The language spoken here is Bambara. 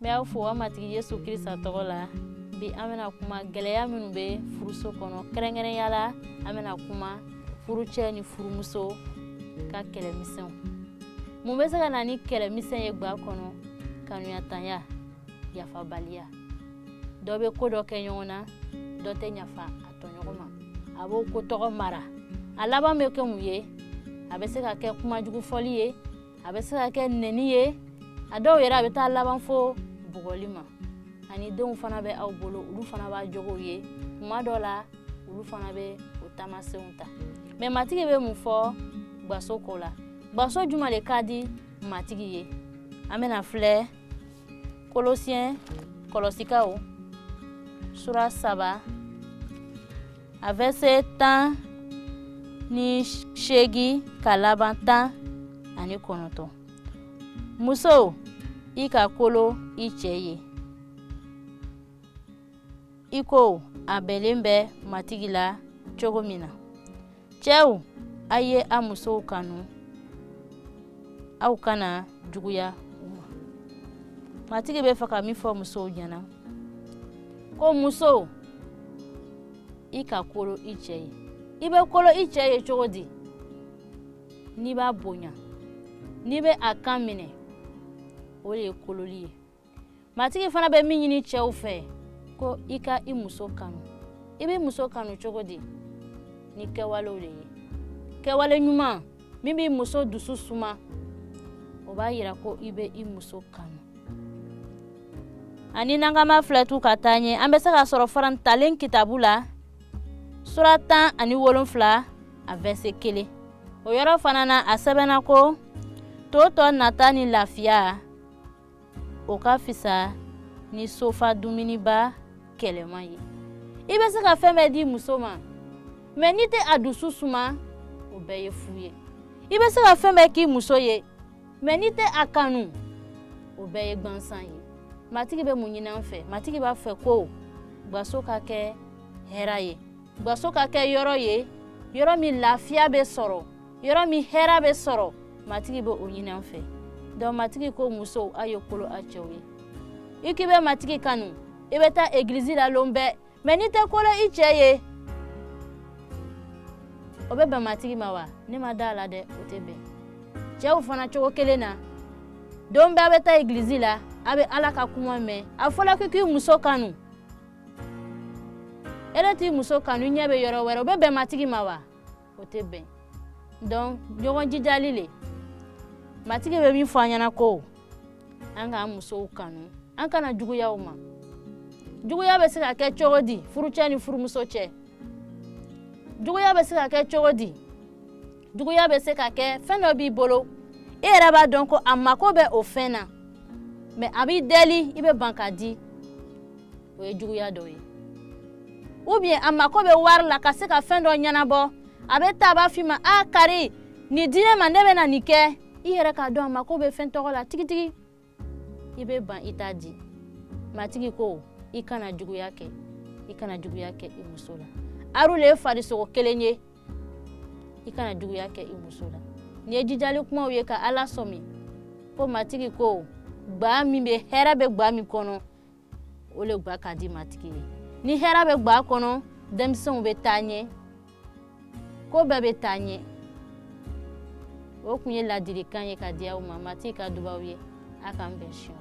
N bɛ aw fo an matigi Yesu Krista tɔgɔ la bi an bɛna kuma gɛlɛya minnu bɛ furuso kɔnɔ kɛrɛnkɛrɛnya la an bɛna kuma furucɛ ni furumuso ka kɛlɛmisɛnw mun bɛ se ka na ni kɛlɛmisɛn ye gwa kɔnɔ kanuyatanya yafabaliya dɔ bɛ ko dɔ kɛ ɲɔgɔn na dɔ tɛ yafa a b'o ko tɔgɔ mara a laban bɛ kɛ mun ye a bɛ se ka kɛ kumajugu fɔli ye a bɛ se ka kɛ nɛni ye a dɔw yɛrɛ a bɛ taa laban fo bugɔli ma ani denw fana bɛ aw bolo olu fana b'a jogow ye kuma dɔ la olu fana bɛ o taamasenw ta mɛ matigi bɛ mun fɔ gwaso ko la gwaso juman de ka di matigi ye an bɛna filɛ kolosiyɛn kɔlɔsikaw sura saba a vɛse tan ni seegi ka laban tan ani kɔnɔntɔn muso i ka kolo i cɛ ye i ko a bɛnlen bɛ matigi la cogo min na cɛw a ye a musow kanu aw kana juguya u ma matigi bɛ fɛ ka min fɔ musow ɲɛna ko muso i ka kolo i cɛ ye i bɛ kolo i cɛ ye cogo di n'i b'a bonya n'i bɛ a kan minɛ o de ye kololi ye matigi fana bɛ min ɲini cɛw fɛ ko i ka i muso kanu i b'i muso kanu cogo di ni kɛwalew de ye kɛwale ɲuman min b'i muso dusu suma o b'a yira ko i bɛ i muso kanu ani n'an k'an b'a filɛ tugu ka taa ɲɛ an bɛ se ka sɔrɔ fana ntalen kitabu la sura tan ani wolonfila a vɛse kelen o yɔrɔ fana na a sɛbɛnna ko to tɔ nantan ni lafiya o ka fisa ni so fa dumuniba kɛlɛma ye i bɛ se ka fɛn bɛɛ di muso ma mɛ n'i tɛ a dusu suma o bɛɛ ye fu ye i bɛ se ka fɛn bɛɛ k'i muso ye mɛ n'i tɛ a kanu o bɛɛ ye gwansan ye matigi bɛ mun ɲini an fɛ matigi b'a fɛ ko gwaso ka kɛ hɛra ye gwaso ka kɛ yɔrɔ ye yɔrɔ min lafiya bɛ sɔrɔ yɔrɔ min hɛra bɛ sɔrɔ matigi bɛ o ɲini an fɛ dɔnku matigi ko musow a ye kolo a cɛw ye i k'i bɛ matigi kanu i bɛ taa egilizi la lon bɛɛ mɛ n'i tɛ kolo i cɛ ye o bɛ bɛn matigi ma wa ne ma da a la dɛ o tɛ bɛn cɛw fana cogo kelen na don bɛɛ a bɛ taa egilizi la a bɛ ala ka kuma mɛn a fɔla ko i k'i muso kanu e de t'i muso kanu i ɲɛ bɛ yɔrɔ wɛrɛ o bɛ bɛn matigi ma wa o tɛ bɛn donc ɲɔgɔn jijali le matigi bɛ min fɔ an ɲɛna ko an k'an musow kanu an kana juguya u ma juguya bɛ se ka kɛ cogo di furucɛ ni furumuso cɛ juguya bɛ se ka kɛ cogo di juguya bɛ se ka kɛ fɛn dɔ b'i bolo e yɛrɛ b'a dɔn ko a mako bɛ o fɛn na mais a b'i deli i bɛ ban k'a di o ye juguya dɔ ye ou bien a mako bɛ wari la ka se ka fɛn dɔ ɲɛnabɔ a bɛ taa a b'a f'i ma a kari nin di ne ma ne bɛ na nin kɛ i yɛrɛ k'a dɔn a mako bɛ fɛn tɔgɔ la tigitigi i bɛ ban i t'a di matigi ko i kana juguya kɛ i kana juguya kɛ i muso la aru le ye farisogo kelen ye i kana juguya kɛ i muso la nin ye jijali kumaw ye ka a lasɔmi ko matigi ko gba min bɛ hɛrɛ bɛ gba min kɔnɔ o le gba ka di matigi ye ni hɛrɛ bɛ gba kɔnɔ denmisɛnw bɛ taa ɲɛ ko bɛɛ bɛ taa ɲɛ o kun ye ladilikan ye ka di aw ma matigi ka duba aw ye a k'an bɛn siɲɛ